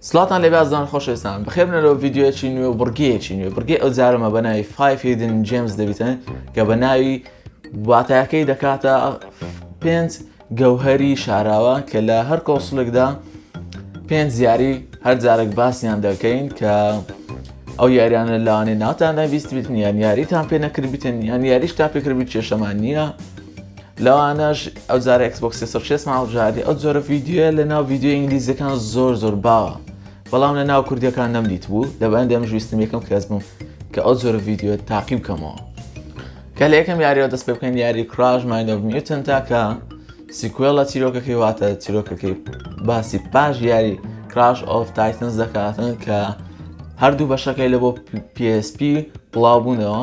سڵاتان لێبێ ئازیزان خۆشەویستان بەخێبنەرەوە ڤیدیۆیەکی نوێ و بڕگەیەکی نوێ بڕگەی ئەو جارەمە بە ناوی فایف هیدن جێمز دەبیتن کە بە ناوی واتایەکەی دەکاتە پێنج گەوهری شاراوە کە لە هەر کۆسلێکدا پێنج یاری هەر جارێک باسیان دەکەین کە ئەو یاریانە لاوانێ ناتان نەویست بتن یان یاریتان پێ نەکرد بتن یان یاریش تا پێکردبی کێشەمان نییە لەوانەش ئەو جارە ئەکسبۆکس سێ سەد و شەست هەڵبژاردی ئەو جۆرە ڤیدیۆیە لە ناو ڤیدیۆ ئینگلیزیەکان زۆر زۆر باوە بەڵام لە ناو کوردیەکان نەمدیت بوو لەبەندی ئەم ژویستم یەکەم کەس بووم کە ئەو جۆرە ڤیدیۆ تاقی بکەمەوە کە لە یەکەم یاریەوە دەست پێ بکەین یاری کراش مایندۆڤ نیوتن تاکە سیکوێڵە چیرۆکەکەی واتە چیرۆکەکەی باسی پاش یاری کراش ئۆف تایتنس دەکاتن کە هەردوو بەشەکەی لە بۆ PSP بڵاو بوونەوە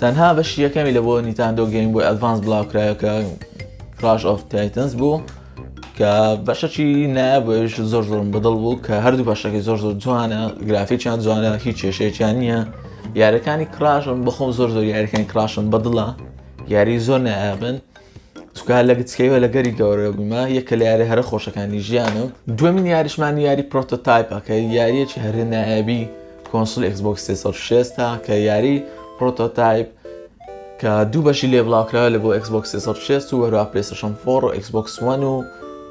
تەنها بەشی یەکەمی لە بۆ نیتاندۆ گەیم بۆی ئەدڤانس بڵاوکرایە کە کراش ئۆف تایتنس بوو کە بەشەکی نابش زۆر زۆرم بەدڵ بوو کە هەردوو بەشەکەی زۆر زۆر جوانە گرافیکیان جوانە هیچ کێشەیەکیان نییە یارەکانی کراشم بەخۆم زۆر زۆر یارەکانی کراشم بەدڵە یاری زۆر نابن چونکە هەر لە گچکەییەوە لە گەری گەورە بوویمە، یەکە لە یارییە هەرە خۆشەکانی ژیانم. دووەمین یاریشمان یاری پرۆتۆتایپە کە یارییەکی هەرە نایابی کۆنسوڵی ئێکسبۆکس سێ سەد و شەست ە کە یاری پرۆتۆتایپ کە دوو بەشی لێ بڵاوکراوە لە بۆ ئێکسبۆکس سێ سەد و شەست و هەروەها پلەیستەشۆن فۆڕ و ئێکسبۆکس وەن و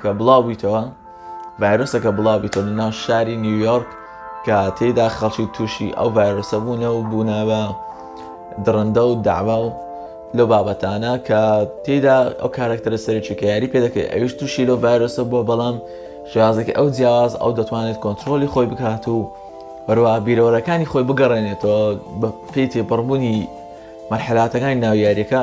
کە بڵاو بویتەوە ڤایرۆسەکە بڵاو بیتەوە لە ناو شاری نیویۆرک کە تێدا خەڵکی تووشی ئەو ڤایرۆسە بوونە و بوونە بە دڕندە و داوا و لەو بابەتانە کە تێدا ئەو کارەکتەرە سەرێکی کە یاری پێ دەکەێت ئەویش تووشی لەو ڤایرۆسە بووە بەڵام شێازێکی ئەو جیاواز ئەو دەتوانێت کۆنتترۆلی خۆی بکات و بەروە بیرەوەرەکانی خۆی بگەڕێنێتەوە بە پێی تێپەڕبوونی مەرحلاتەکانی ناو یاریەکە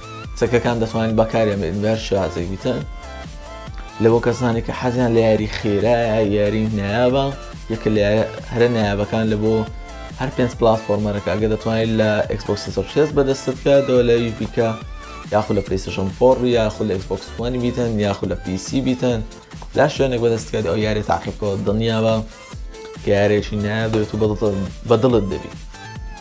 چەکەکان دەتوانین بەکاریان بێنین بە هەر شێوازێکی تر لە بۆ کەسانی کە حەزیان لە یاری خێرایە یاری نایابە یەکە لە هەرە نایابەکان لە بۆ هەر پێنج پلاتفۆرمەرەکە ئەگە دەتوانیت لە ئەکسپۆکسی سەرشێز بەدەستت کە دەوە لە ویش بیکە یاخود لە پلیسشن فۆڕ یاخود لە ئەکسپۆکسوانی بیتەن یاخود لە پیسی بیتەن لا شوێنێک بەدەستکات ئەو یاری تاقیبکەوە دڵنیاوە کە یارێکی نایە دەێت و بەدڵت دەبیت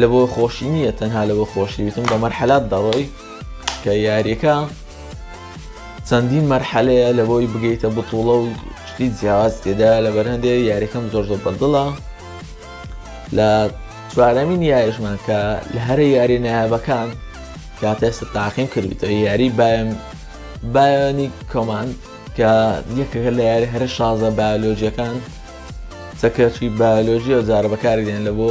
لەبۆ خۆشی نییە تەنها لەبۆ خۆشی وتم بە مەرحەلات دەڕۆی کە یاریەکە چەندین مەرحەلەیە لە بۆی بگەیتە بتوڵە و شتی جیاواز تێدا لە بەرهندێ یاریەکەم زۆر زۆر بەدڵە لە چوارەمین یاریشمان کە لە هەرە یاری نایابەکان کاتێستا تاقیم کردوتە یاری بایم بایانی کۆمان کە یەکەکە لە یاری هەرە شازە بایۆلۆجیەکان چەکێکی بایۆلۆژییە و جارە بەکاری دێن لە بۆ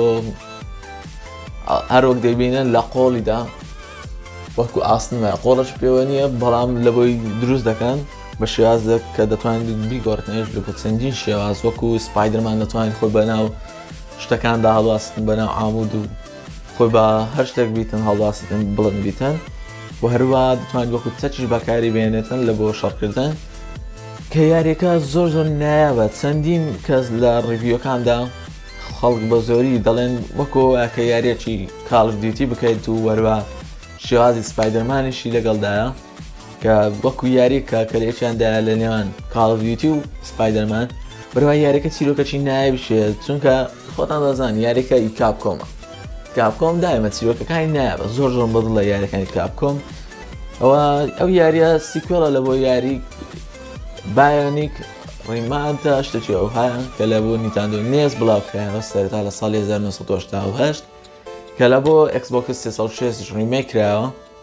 هەر وەک دەیبینن لە قۆڵیدا وەکو ئاسنە قۆڵش پێوە نییە بەڵام لە بۆی دروست دەکەن بە شێوازێک کە دەتوانین بیگۆڕتنێش لە چەندین شێواز وەکو سپایدرمان دەتوانین خۆی بەناو شتەکاندا هەڵواستن بەناو ئامود و خۆی بە هەر شتێک بیتن هەڵباستن بڵند بیتن و هەروە دەتوانێت وەکو چەکیش بەکاری بێنێتن لە بۆ شەڕکردن کە یاریەکە زۆر زۆر نایابە چەندین کەس لە ڕیڤیوەکاندا خەڵک بە زۆری دەڵێن وەکۆ کە یاریەکی کاڵف دیوتی بکەیت و وەروە شێوازی سپایدەرمانیشی لەگەڵدایە کە وەکو یاری کە کەلێکیاندا لە نێوان کاڵڤیتی و سپایدەرمان بەرەوە یاریەکە چیرۆکەچی نایە بشێت چونکە خۆتان دەزان یاریەکە ئی کاپ کۆمە کاپ کۆم دایمە چیرۆکەکانی نایە زۆر زۆر بەدڵ لە یاریەکانی کاپ کۆم ئەوە ئەو یاریە سیکۆڵە لە بۆ یاری بایۆنیک ڕیمانتە شتێکی ئەوهایان کە لە بۆ نیتاندۆ نێز بڵاو کرایەوە سەرتا لە ساڵی 1970 کە لە بۆ ئەکسبۆکس 360 ڕیمێک کرایەوە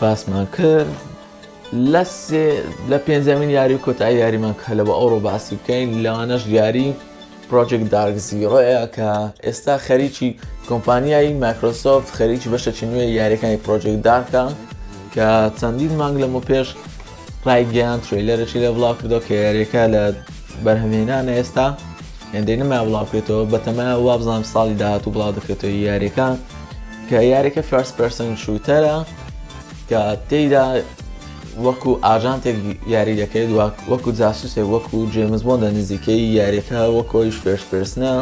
باسمان کرد لە سێ لە پێنجەمین یاری و کۆتایی یاریمان کە لە بە ئەوڕۆ باسی بکەین لەوانەش یاری پرۆژێک دارک زیڕۆەیە کە ئێستا خەریکی کۆمپانیایی مایکرۆسۆفت خەریکی بەشەکی نوێ یاریەکانی پرۆژێک دارکە کە چەندین مانگ لەمە پێش ڕایگەیاند ترەیلەرێکی لێ بڵاوکردەوە کە یاریەکە لە بەرهەمهێنانە ئێستا هێندەی نما بڵاوکرێتەوە بەتەمایە وابزانام ساڵی داهاتوو بڵاو دەکرێتەوە یاریەکە کە یاریەکە فەرس پرسن شووتەرە کە تێیدا وەکو ئاژانتێک یاری دەکەێت وەکو جاسوسێک وەکو جێمز بۆندە نزیکەی یاریەکە وەکۆیش فێرش پرسنە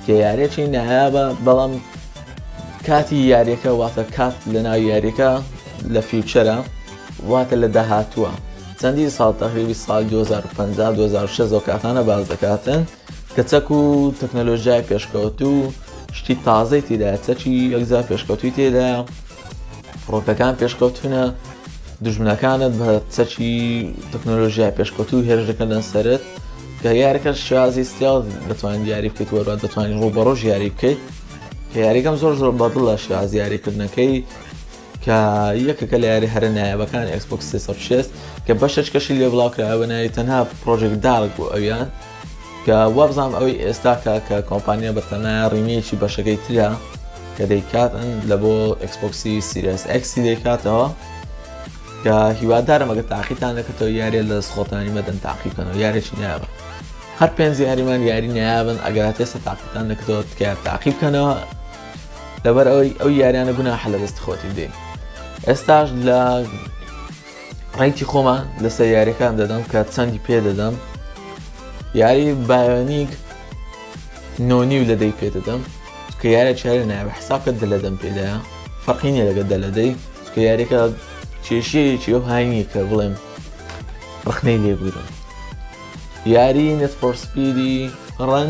کە یارێکی نایابە بەڵام کاتی یاریەکە واتە کات لە ناو یاریەکە لە فیوچەرە واتە لە داهاتووە چەندین ساڵ تەقریبی ساڵ 2050 2006 و کاتانە باز دەکاتن کە چەک و تەکنەلۆژیای پێشکەوت و شتی تازەی تێدا چەکی یەکجار پێشکەوتوی تێدا فڕۆکەکان پێشکەوتونە دژمنەکانت بە چەکی تەکنۆلۆژیای پێشکەوت و هێرش دەکەن سەرت کە یارەکە شازی سیاڵ دەتوانین یاری بکەیت وەرا دەتوانین ڕوو بەڕۆژ یاری بکەیت کە یاریەکەم زۆر زۆر بەدڵە شازیاریکردنەکەی کە یەکێکە لە یاریە هەرە نایابەکان ئێکسبۆکس سێ سەد و شەست کە بەشەچکەشی لێ بڵاوکرایە بە ناوی تەنها پرۆژێک دارک بۆ ئەویان کە وابزانام ئەوەی ئێستاکە کە کۆمپانیا بە تەنایا ڕیمیەکی بەشەکەی ترە کە دەیکاتن لە بۆ ئەکسپۆکسی سیرس ئەکسی دەیکاتەوە کە هیوادارم ئەگە تاقیتان دەکەتەوە یارێ لە سخۆتانی مەدەن تاقیکەنەوە یارێکی نایابە هەر پێنج یاریمان یاری نایابن ئەگەرات ئێستا تاقیتان دەکەەوە تکایە تاقی بکەنەوە لەبەر ئەوەی ئەو یاریانە گوناحە لە دەست خۆتی بدەین ئێستاش لە ڕێکی خۆمان لەسەر یاریەکان دەدەم کە چەندی پێ دەدەم یاری بایۆنیک نۆنی و لە دەی پێ دەدەم کە یارە چارە ناوە حساکە دە لە دەم پێدایە فەقینە لەگە دە لە دەی کە یاریەکە کێشەیەکی ئەو هاینیە کە بڵێم ڕخنەی لێبوورم یاری نەسپۆرسپیری ڕەن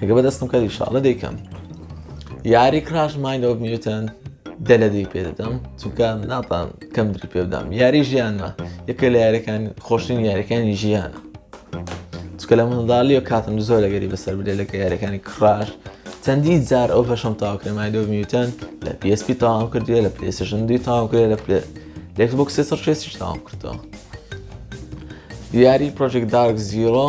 ئەگە بەدەستم کە ئیشاڵە دەیکەم یاری کراش ماینۆ میوتن دە لە دی پێ دەدەم چونکە ناتان کەم دری پێ بدەم یاری ژیانە یەکە لە یاریەکان خۆشترین یاریەکانی ژیانە چکە لە منداڵی و کاتم زۆر لەگەری بەسەر بدێ لەکە یاریەکانی کڕاش چەندی جار ئەو بەشم تاوکرێمای دۆ میوتەن لە PSP تاوام کردیە لە پلێسشن دی تاوام کرێ لە پلێ لەکسبک سێ سەر شێسیش تاوام کردەوە یاری پرۆژێک دارک زیرۆ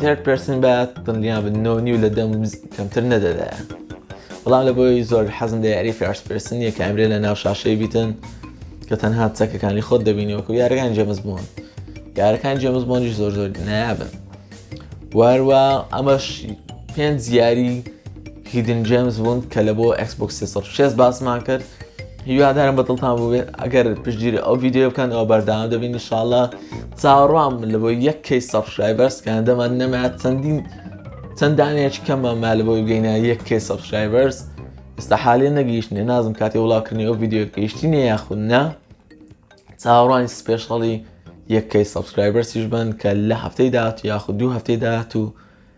Third person بە دڵنیا بن نۆ نیو لە دەم کەمتر نەدەدایە بەڵام لە بۆی زۆر حەزم لە یاری فارس پرسن یە کامرێ لە ناو شاشەی بیتن کە تەنها چەکەکانی خۆت دەبینی وەکو یارەکان جێمز بوون یارەکان جێمز بۆنی زۆر زۆر نایابن واروا ئەمەش پێنج یاری هیدن جەیمس بوند کە لە بۆ Xbox سێ سەد و شەست باسمان کرد هیوادارم بە دڵتان بووێت ئەگەر پشتگیری ئەو ڤیددیو بکەن ئەو بەرداوام دەبین نیشاالله چاوەڕوام لە بۆ یەک کەی سەبسکرایبەرس کە هەندەمان نەمات چەندین چەند دانەیەکی کەممان ما لە بۆی بگەینە یەک کەی سەبسکرایبەرس ئێستا حالێ نەگەیشتنێ نازم کاتی وڵاکردنی ئەو ڤیددیو گەیشتی نە یاخود نا چاوەڕوانی سپێشڵی یەک کەی سەبسکرایبەرسیش بن کە لە هەفتەی داهات یاخود دوو هەفتەی داهات و